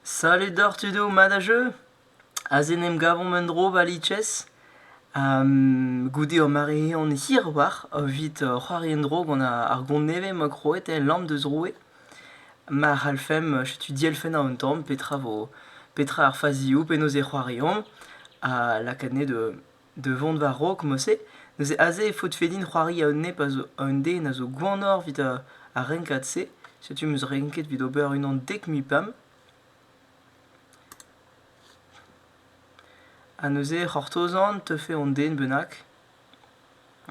Salut doc'h tudoù, mat ha jeu? Aze en em gavomp un-dro war Litches. goude ur mare-eeun hirwalc'h evit c'hoari en-dro gant ar gont nevez ma krouet el Lamp deus Roue. Ma c'hallfemp setu dielfenn an tamm petra vo petra ar fazioù, penaos e c'hoariomp, ha lakaat anezhe da da vont war-raok Mosse, neuze aze e faot fedin c'hoari a un nep a zo un den a zo gwannoc'h evit ar ar renkad-se. Setu 'm eus renket evit ober unan dek mil pemp. Ha neuze c'hortozan teufe an den bennak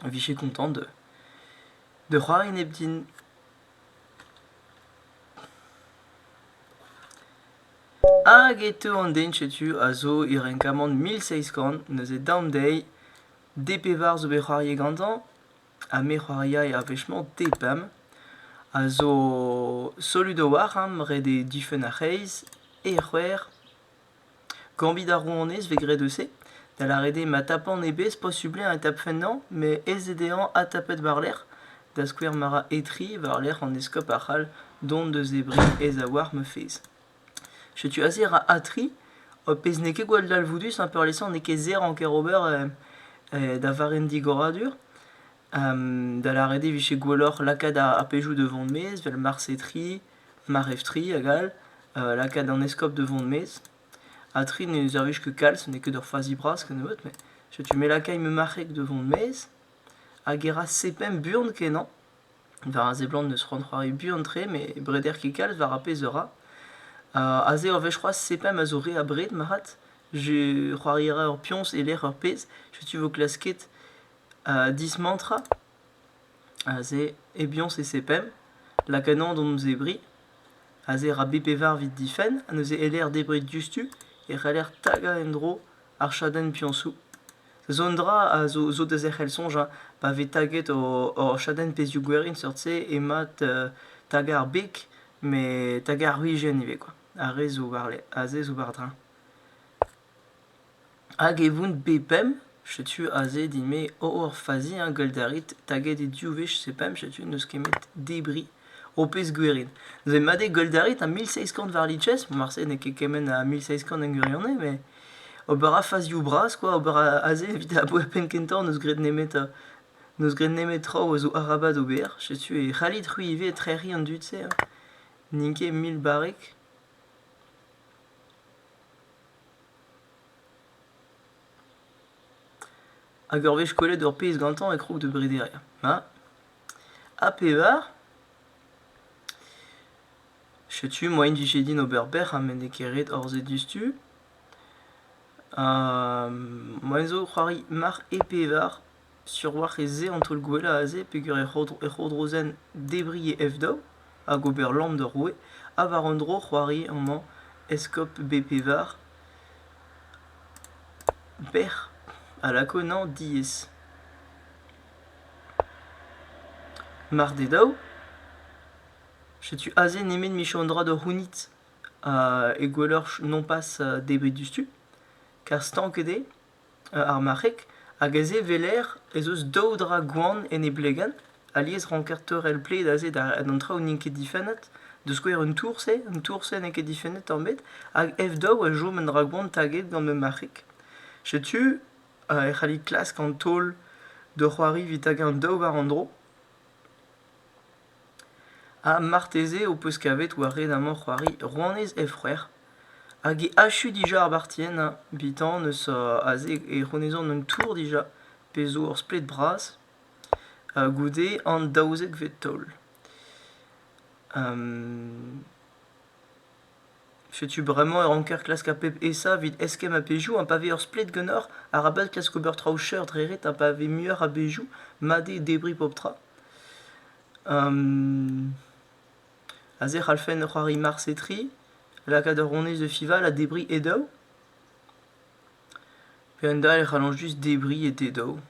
a vije kontant de, de c'hoari nep din. Hag e teu an den setu a zo e renkamant mil seizh kant, neuze daom dezhi D pevar zo bet c'hoariet gantañ, ha me c'hoaria er wech-mañ D pemp, a zo solud a-walc'h ram ret eo difenn ar c'hreiz, E c'hwec'h. Kañvit ar rouanez 'vez graet eus se, da lâret eo ma tapan e bez posublañ e tapfen anv met aes eo dezhañ adtapet war-lerc'h, da skouer ma ra etri war-lerc'h an eskob a c'hall dont eus e bri aes-a-walc'h ma fezh. Setu aze ra atri, ho pezh n'eo ket gwall dalvoudus ha peurliesañ n'eo ket serr anker ober da varrenn digoradur, da lâret eo 'vije gwelloc'h lakaat ar pejoù da vont 'maez 'vel Mars etri. Mareftri hag all, lakaat an eskob da vont maez. Ha tri ne servij ket kalz, n'eo ket ur fazi bras kennebeut, met setu me lakaimp ma marc'heg da vont maez. Hag e ra sepemp buan-kenañ. War a seblant n'eus c'hoant c'hoari buan-tre, met breder ket kalz war ar pezh a ra. aze ur wech c'hoazh, sepemp a zo re abred marc'had. Je c'hoari a ra ur pioñs e-lec'h ur pezh. Setu 'vo klasket dismantrañ. Aze e biañs e sepemp, lak ennañ d'hon zebriñ. Aze ra bet pevar evit difenn ha neuze e-lec'h debriñ diouzhtu e c'heller tagañ en-dro ar chadenn biañsoù. Zo un dra a zo zo da zerc'hel soñj hein, pa vez taget hor chadenn pezhioù gwerin seurt-se emañ tagañ ar beg met tagañ ar wrizienn ivez kwa, ar re zo war-lerc'h, aze zo war-dreñv. Hag e voun bet pemp, setu aze din-me oh eur faziañs gwel't a rit taget eo diou wech se pemp, setu n'eus kemet debriñ, ho pezh gwerin. Neuze mat eo gwel't a rit ha mil seizh kant war lices, marse n'eo ket kement a mil seizh kant en gwirionez met ober a fazioù bras kwa, ober aze evit aboe ar penn kentañ n'eus graet nemetañ, n'eus graet nemet traoù a zo arabat ober, setu e c'hallit c'hwi ivez trec'hiñ an dud-se hein, n'int ket mil barrek. Hag ur wech kollet ur pezh gantañ e krog da brederiañ. Ma. Ha pevar. Setu moa en dije din ober bec'h ha met n'eo ket ret harzet diouzhtu. moa en zo c'hoari marc'h e pevar. Sur oac'h ez eo an taol-gwellañ aze peger ur c'hourdrozenn debriñ e F-daou hag ober lamm d'ur roue ha war un dro c'hoari amañ eskob Bpevar bec'h a lako ennañ diaes. Mar d'eo dav, setu aze nemet michañ un dra da c'hounit ha gwelloc'h nopas debriñ diouzhtu, kar stanket eo. ar marc'heg hag aze 'weler ez eus daou dra gwan en e blegenn alies 'ranker teurel pled aze d'an traoù n'int ket difennet da skouer un tourse un tourse n'eo ket difennet tamm hag F2 a chom un dra gwan taget gant ma marc'heg setu e c'hallit klask an taol d'ur c'hoari 'vit hag eñ daou war an dro Ha marteze ho peus kavet war red amañ c'hoari rouanez he c'hwec'h hag he achu dija ar bartienn hein bitan eus aze e c'honezan un tour dija pe zo ur splet bras goude an daouzekvet taol Setu bremañ e ranker klask ar pep aesañ evit eskemm a-bezhioù ha pa vez ur splet ganeoc'h arabat klask ober traoù chañs dre ret ha pa vez muioc'h a-bezhioù mat eo debriñ pep tra. Aze e c'hallfen c'hoari marse-tri, lakaat ur honnezh da fiñval ha debriñ e daou. Kendalc'h e c'hallañ just debriñ e te daou.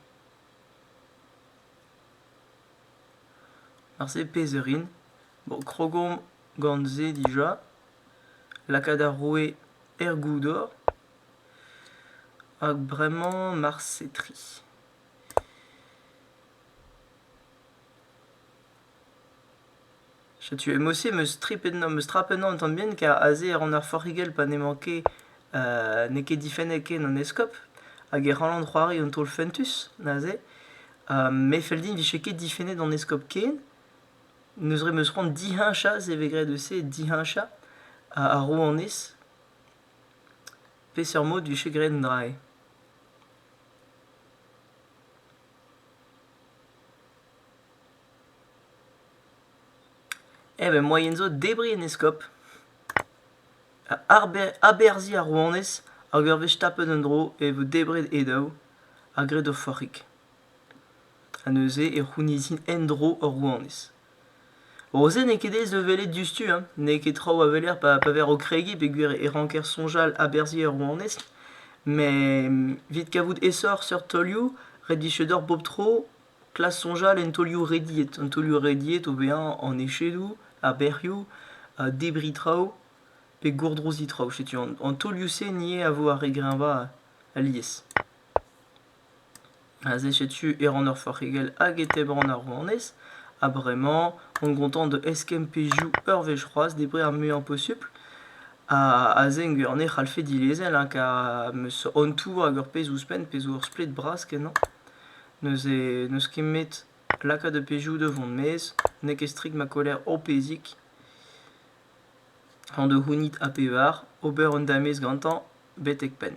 Marse pezh a rin. Bon, krogomp gant se dija. Lakaat ar roue er goudor. Hag bremañ marse tri. Setu, et moi aussi, me strip ennañ, me strap ennañ un tamm bihan, car aze e ran ar forc'higell pa n'emañ ket, n'eo ket difennet ken an eskob, hag e c'hallan c'hoari un taol fentus, neuze. Me 'fell din 'vije ket difennet an eskob ken. Neuze 'm eus c'hoant diheñchañ, se 'vez graet eus-se, diheñchañ a ro honnezh peseurt mod 'vije graet an dra-se. Eh ben moaien zo debriñ en eskob, aberzhiñ a ro honnezh hag ur wech tapet un dro e vo debret e daou ha graet ur forc'hig. Ha neuze e c'hounizin en-dro hor rouanez. Roze n'eo ket aes da welet diouzhtu, hein. n'eo ket traoù a weler pa, pa ver o kregiñ peogwir e ranker soñjal aberzhiñ ur rouanez. Met evit kavout aesoc'h seurt taolioù, redichañ deoc'h bep tro, klask soñjal en taolioù rediet. An taolioù rediet o vezañ an echedoù, ar bec'hioù, debriñ traoù pe gourdroziñ traoù. Setu an, an taolioù-se 'ni a vo ar re greñvañ alies. Aze setu e ran ur forc'higell hag e tebran ar rouanez ha bremañ on gontant da eskemm pezhioù ur wech c'hoazh debret ar muiañ posupl ha aze en gwir-annez e c'hallfe dilezel hein kar 'm eus an tour hag ur pezh ouzhpenn pezh zo ur splet bras kenañ neuze n'eus ket 'met lakaat ar pezhioù da vont maez n'eo ket strik ma koller ho pezhig hañ da c'hounit ha pevar ober un damez gantañ betek penn.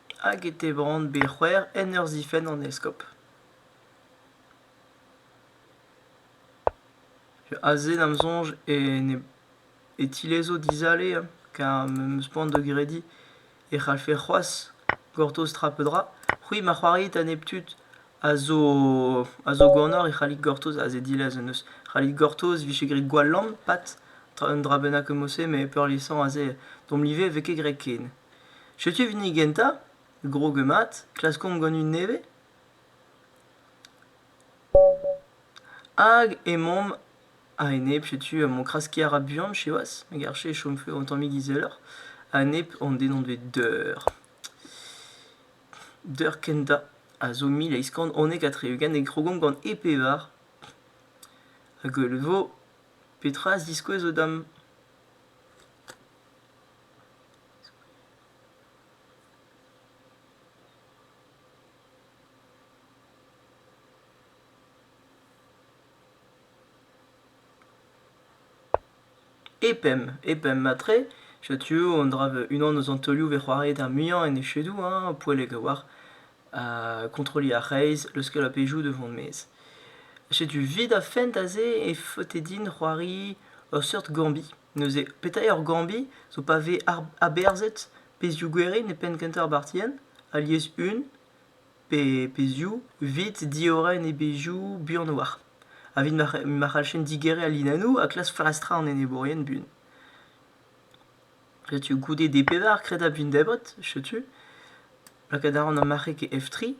hag e tebront bet c'hwec'h en ur zifenn an eskob. Aze da'm soñj e tilezo dizale car m'em eus poan da grediñ e c'hallfe c'hoazh gortoz tra pe dra. C'hwi ma c'hoarit a nep tud a zo ganeoc'h e c'hallit gortoz aze dilez en deus. C'hallit gortoz e vije graet gwall lamm, pat, un dra bennak eus mod-se, met peurliesañ aze domp live e vez ket graet ken. Setu hini gentañ, grog mat, klaskomp gant un nevez. Hag emaomp a-enep, setu mon kraskiñ a ra buan siwazh, me garfe e chomfe un tammig izeloc'h. A-enep hon den hon bet deur. Deur kentañ a zo mil eizh kant unnek ha tri-ugent e krogomp gant e pevar. Hag e vo petra a ziskouez o dam? E pemp, e pemp matre, setu un dra vel unan eus an taolioù bet c'hoariet ar muiañ en echedoù hein, poellek a-walc'h. Kontrolliñ a reizh, leuskel a-bezhioù da vont maez. Setu 'vid ar fent aze e faote din c'hoari ur seurt gambit. Neuze, petra eo ar gourmbi zo pa vez aberzhet pezhioù-gwerin e penn-kentañ ar bartienn? Alies un pe pezhioù 'vit diorren e bezhioù buan a-walc'h. A vit ma c'hallfen digeriñ al linennoù ha klask flastrañ an enebourien buan. Setu goude D-pevar kredabl Vindebret, setu. Lakaat a ran ar marc'heg F3.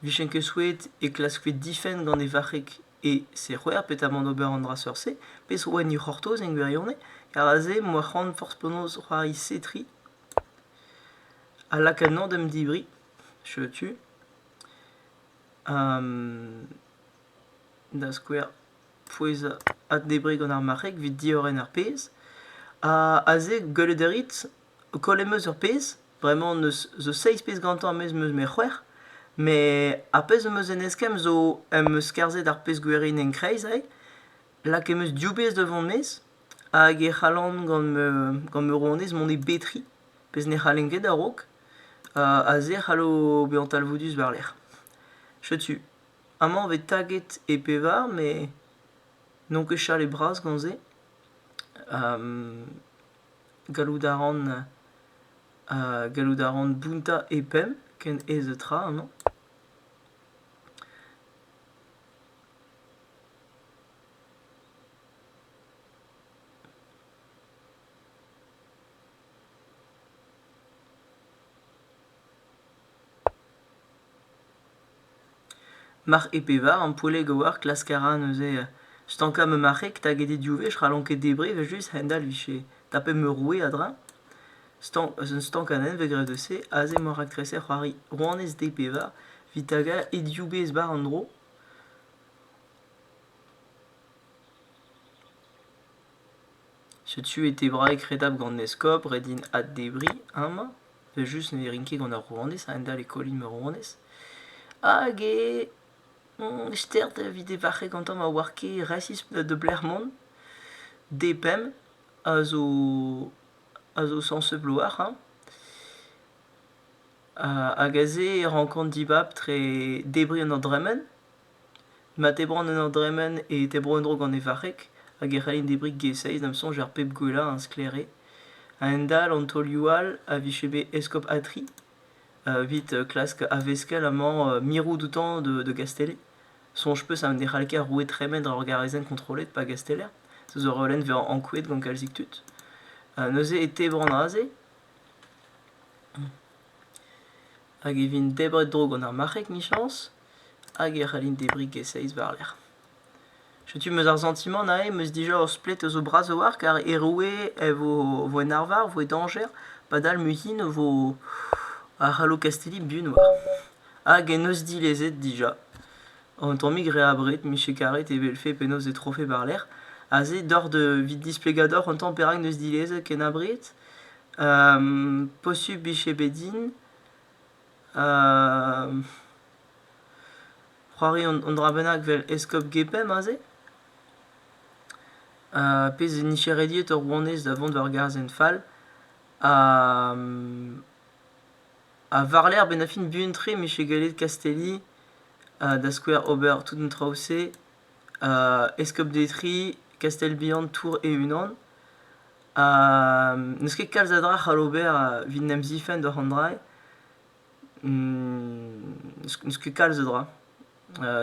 'Vijen ket souezhet e klaskfe difenn gant e varc'heg E se c'hwec'h petamant ober an dra seurt-se, pezh oa en he c'hortoz en gwirionez, ha aze m'oa c'hoant forzh penaos c'hoari setri, a lakaennañ d'am debriñ, setu, da skouer, fouezhañ ha debriñ gant ar marc'heg evit diorren ar pezh, ha aze gwelet a rit O koll em eus ur pezh, bremañ n'eus zo seizh pezh gantañ a-maez am eus met c'hwec'h. Met ar pezh am eus en eskemm zo em eus skarzhet ar pezh gwerinenn kreiz eo. Lakaet em eus div bezh da vont nes hag e c'hallan gant ma gant ma rouanez mont e betri, pezh ne c'hallen ket a-raok. Aze e c'hallo bezañ talvoudus war-lerc'h. Setu, amañ e vez taget e pevar met n'on ket chalet bras gant se. Gallout a ran gallout a ran bountañ e penn ken aes tra amañ. Marc'h E-pevar ampoelleg a oar klask a ra neuze stankañ ma marc'heg taget eo div wech ra n'on ket debriñ evel-just a-hend-all 'vije tapet ma roue a-dreñv. Stank eus un stankadenn 'vez graet eus se aze emañ raktreser c'hoari Rouanez D-pevar 'vit tagañ he div bezh 'bar an dro. Setu e tebraeg redabl gant eskob, ret int addebriñ amañ, evel-just ne rin ket gant ar rouanez a-hend-all e kollin ma rouanez. Hag e on stert evit e varc'heg gantañ ma oar ket resis de-lec'h mont. D-pemp a zo a zo sañset bloaz hañ. Hag aze e rankan dibab tre debriñ an dra-mañ. Ma tebran en ur dremen e tebro en-dro gant e varreg hag e c'hellin debriñ ges-eizh da'm soñj ar pep gwellañ a sklaere. A-hend-all an taolioù all a vije bet eskob Atry evit klask a-veskell amañ mirout outañ da Gastellet. Soñj 'peus ha ne c'hall ket ar roue tremen dre ur garazenn kontrollet pa gasteller? Zo ur reolenn vezañ ankouaet gant kalzik tud. Neuze e tebran aze hag e vin debret-dro gant ar marc'heg 'michañs. hag e c'hallin debriñ e-seizh war-lerc'h. Setu 'm eus ar santimant aze 'm eus dija ur splet eus ho bras a-walc'h car e roue e vo vo en arvar, vo e dañjer padal muihin e vo a c'hallo Kastilli buan oar. Hag en deus dilezet dija. Un tammig re abred miche karet e welfe penaos e trofe war-lerc'h. Aze doc'h da evit displegañ deoc'h un tamm perak 'neus dilezet ken abred posupl miche bet din c'hoari un dra bennak 'vel eskob Gepemp aze, pezh 'vez nicherediet hor rouanez da vont war gazenn fall, ha war-lerc'h 'benn ar fin buan-tre 'mije gallet Kastelli da skouer ober tout an traoù-se, eskob Detri, Kastell-Bihan, Tours e-unan. n'eus ket kalz a dra c'hall ober evit 'n em zifenn doc'h an drailh. n'eus ket kalz a dra.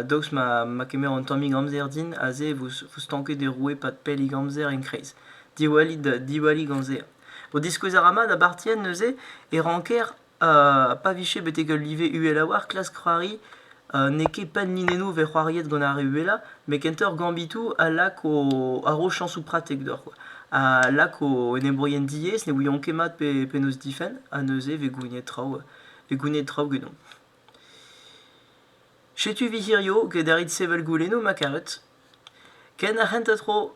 daoust ma kemero un tammig amzer din, aze e vo stanket e roue pad pellik amzer en-kreiz. Diwallit, diwallit gant se. Diskouez a ra mat a bartienn neuze e ranker pa vije betek ul live uhel a-walc'h, klask c'hoari, n'eo ket pell linennoù 'vez c'hoariet gant ar re uhelañ, met kentoc'h gambitoù a lak o chañsoù pratek deoc'h kwa, a lak o enebourien diaes ne ouiont ket mat pe penaos difenn ha neuze 'vez gouniet traoù vez gouniet traoù genomp. Setu 'vi hirio get a rit sevel goulennoù ma karet. Ken ar c'hentañ tro.